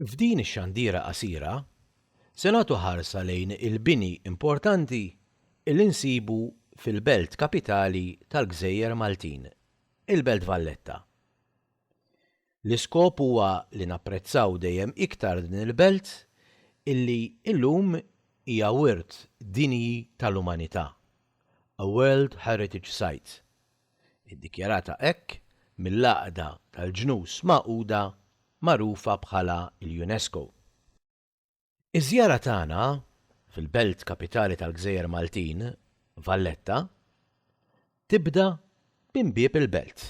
F'din ix-xandiera qasira, se nagħtu ħarsa lejn il-bini importanti li nsibu fil-belt kapitali tal-gżejjer Maltin, il-Belt Valletta. L-iskop huwa li napprezzaw dejjem iktar din il-belt illi illum hija wirt dinji tal-umanità, a World Heritage Site, iddikjarata hekk mill-Għaqda tal-Ġnus Magħquda magħrufa bħala l-UNESCO. Iż-żjara tagħna fil-belt kapitali tal-gżejjer Maltin, Valletta, tibda minn bieb il-belt.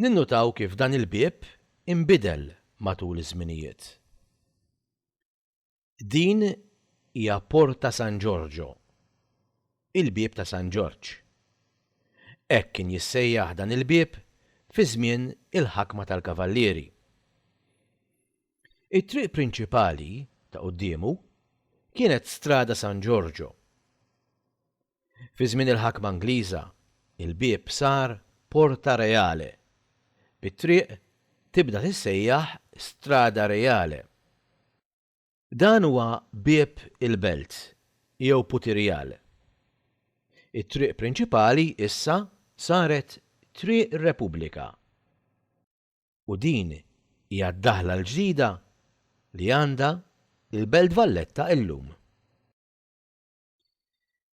Ninnutaw kif dan il-bieb inbidel matul iż-żminijiet. Din hija Porta San Ġorġo, Il-Bieb ta' San Ġorġ. Hekk kien jissejjaħ dan il-bieb fi żmien il-ħakma tal-Kavallieri. It-triq prinċipali, ta' quddiemu, kienet Strada San Giorgio. Fi żmien il-ħakma Ingliża, il-bieb sar Porta Reale, bit-triq tibda tissejjaħ Strada Reale. Dan huwa bieb il-belt, jew Putirial. It-triq prinċipali issa saret Triq Repubblika u din hija d-daħla l-ġdida li għandha l-Belt Valletta illum.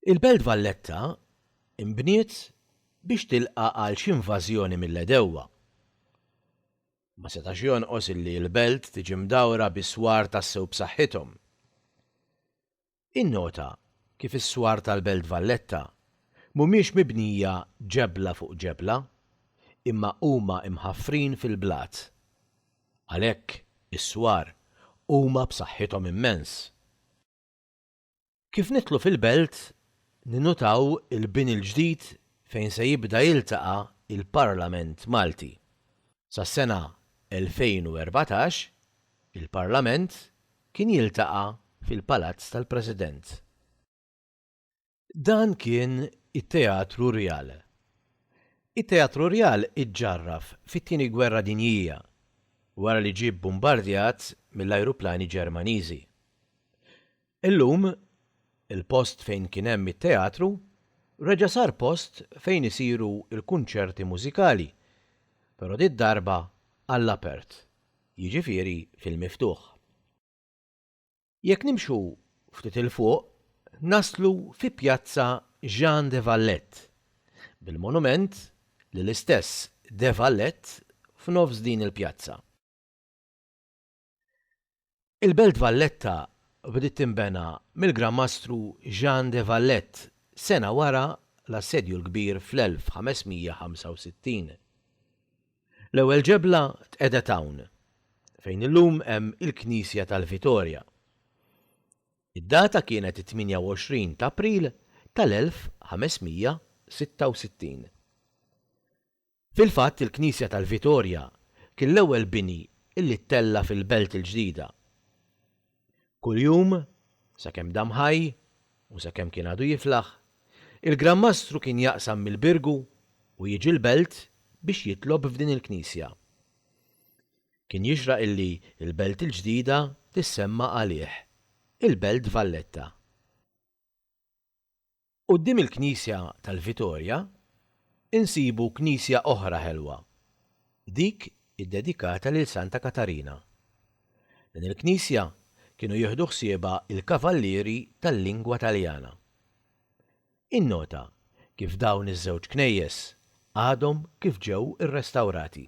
Il-Belt Valletta nbniet biex tilqa' għal xi invażjoni mill-għedewwa. Ma setax jonqos illi l-Belt tiġi mdawra bi swar tassew b'saħħithom. Innota kif is-swar tal-Belt Valletta mhumiex mibnija ġebla fuq ġebla imma huma mħaffrin fil-blat. Għalhekk is-swar huma b'saħħithom immens. Kif nidħlu fil-belt, ninnutaw il-bini l-ġdid fejn se jibda jiltaqa' l-Parlament Malti. Sas-sena 2014, il-Parlament kien jiltaqa' fil-Palazz tal-President. Dan kien it-Teatru Rjal. It-Teatru Rjal iġġarraf fit-Tieni Gwerra Dinjija, wara li ġie bbumbardjat mill-ajruplani Ġermaniżi. Illum, il-post fejn kien hemm it-teatru reġa' sar post fejn isiru l-kunċerti mużikali, però did-darba għall-apert, jiġifieri fil-miftuħ. Jekk nimxu ftit 'il fuq naslu fi Pjazza Jean de Valette, bil-monument lill-istess de Valette f'nofs din il-pjazza. Il-Belt Valletta bdiet tinbena mill-Gran Mastru Jean de Valette sena wara l-Assedju l-Kbir fl-1565. L-ewwel ġebla tqegħdet hawn, fejn illum hemm il-Knisja tal-Vitorja. Id-data kienet it-28 t'April tal-1566. Fil-fatt il-Knisja tal-Vitorja kien l-ewwel bini illi ttella' fil-Belt il-Ġdida. Kuljum, sakemm dam ħaj, u sakemm kien għadu jiflaħ, il-Gran Mastru kien jaqsam mill-Birgu u jiġi l-Belt biex jitlob f'din il-Knisja. Kien jixraq illi l-Belt il-Ġdida tissemma għalih, il-Belt Valletta. Quddiem il-knisja tal-Vitorja insibu knisja oħra ħelwa, dik iddedikata lil Santa Katarina. Din il-knisja kienu jieħdu ħsiebha l-Kavallieri tal-Lingwa Taljana. Innota kif dawn iż-żewġ knejjes għadhom kif ġew irrestawrati.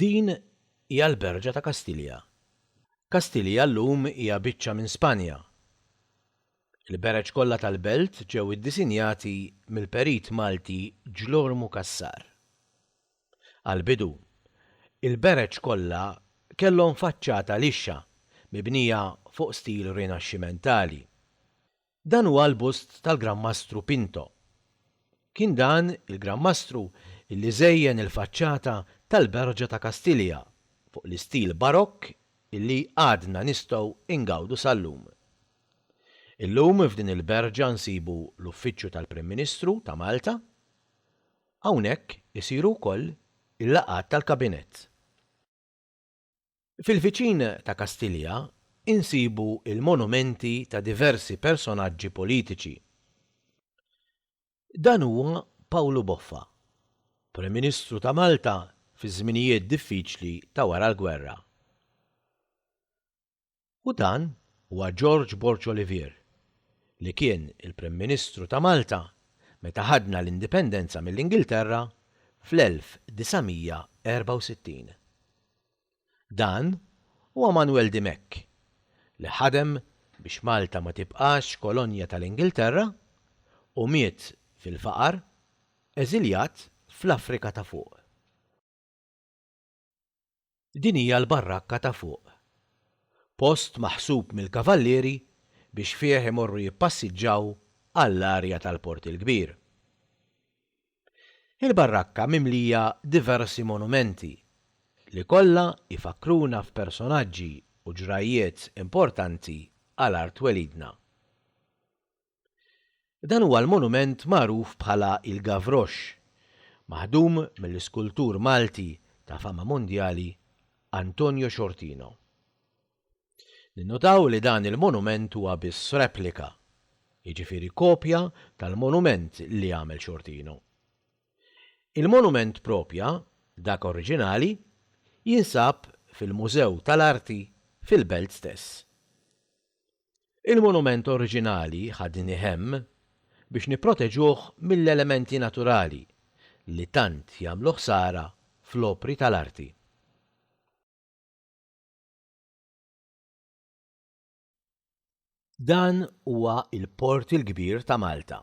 Din hija l-berġa ta' Kastilja. Kastilja llum hija biċċa minn Spanja. Il-bereġ kollha tal-belt ġew iddisinjati mill-perit Malti Ġlormu Cassar. Għall-bidu, il-bereġ kollha kellhom faċċata lixxa mibnija fuq stil Rinaxximentali. Dan huwa l-bust tal-Gran Mastru Pinto. Kien dan il-Gran Mastru li żejjen il-faċċata tal-Berġa ta' Kastilja fuq l-istil Barokk li għadna nistgħu ngawdu sal-lum. Illum f'din il-berġa nsibu l-Uffiċċju tal-Prim Ministru ta' Malta, Hawnhekk isiru wkoll il-laqgħat tal-Kabinett. Fil-viċin ta' Kastilja insibu l-monumenti ta' diversi personaġġi politiċi. Dan huwa Pawlu Boffa, Prim Ministru ta' Malta fiż-żminijiet diffiċli ta' wara l-gwerra. U dan huwa George Borg Olivier, li kien il-Prim Ministru ta' Malta meta ħadna l-Indipendenza mill-Ingilterra fl-1964. Dan huwa Manwel Dimech, li ħadem biex Malta ma tibqax kolonja tal-Ingilterra u miet fil-faqar, eżiljat fl-Afrika ta' Fuq. Din hija l-barrakka ta' fuq. Post maħsub mill-kavallieri biex fih imorru jippassiġġaw għall-arja tal-Port il-Kbir. Il-barrakka mimlija diversi monumenti li kollha jfakkruna f'personaġġi u ġrajjiet importanti għal art twelidna. Dan huwa l-monument magħruf bħala il-Gavroche, maħdum mill-iskultur Malti ta' fama mondjali Antonio Sciortino. Ninnotaw li dan il-monument huwa biss replika, jiġifieri kopja tal-monument li għamel Sciortino. Il-monument proprja, dak oriġinali, jinsab fil-Mużew tal-Arti fil-Belt stess. Il-monument oriġinali ħadni hemm biex nipproteġuh mill-elementi naturali li tant jagħmlu ħsara fl-opri tal-arti. Dan huwa l-Port il-Kbir ta' Malta.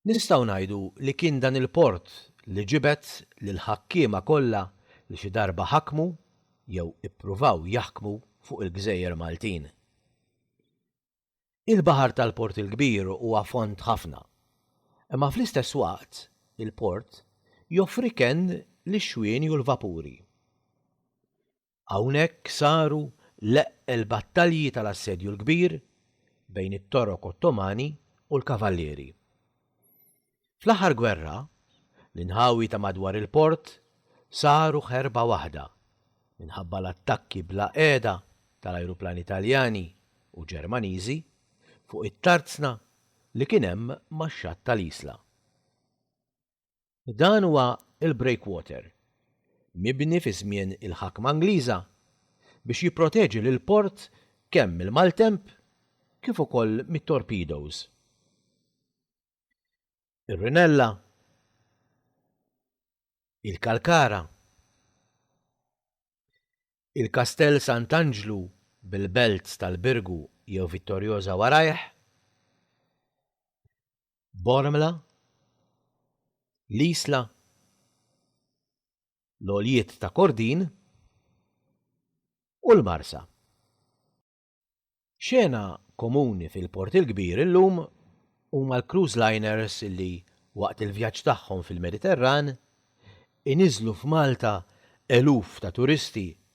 Nistgħu ngħidu li kien dan il-port li ġibed lill-ħakkiema kollha li xi darba ħakmu jew ippruvaw jaħkmu fuq il-gżejjer Maltin. Il-baħar tal-Port il-Kbir huwa fond ħafna, imma fl-istess waqt il-port joffri kenn lix-xwieni u l-vapuri. Hawnhekk saru l-eqqel battalji tal-Assedju l-Kbir bejn it-Torok Ottomani u l-Kavallieri. Fl-aħħar gwerra, l-inħawi ta' madwar il-port saru ħerba waħda minħabba l-attakki bla qiegħda tal-ajruplani Taljani u Ġermaniżi fuq it-tarzna li kien hemm max-xatt tal-Isla. Dan huwa l-breakwater, mibni fi żmien il-ħakma Ingliża biex jipproteġi lill-port kemm mill-maltemp kif ukoll mit-torpedoes. Ir-rinella, il-kalkara, il-Kastell Sant'Anġlu bil-belt tal-Birgu jew Vittoriosa warajh, Bormla, l-Isla, l-Għoljiet ta' Kordin u l-Marsa. Xena komuni fil-Port il-Kbir illum huma l-cruise liners li, waqt il-vjaġġ tagħhom fil-Mediterran, iniżżlu f'Malta eluf ta' turisti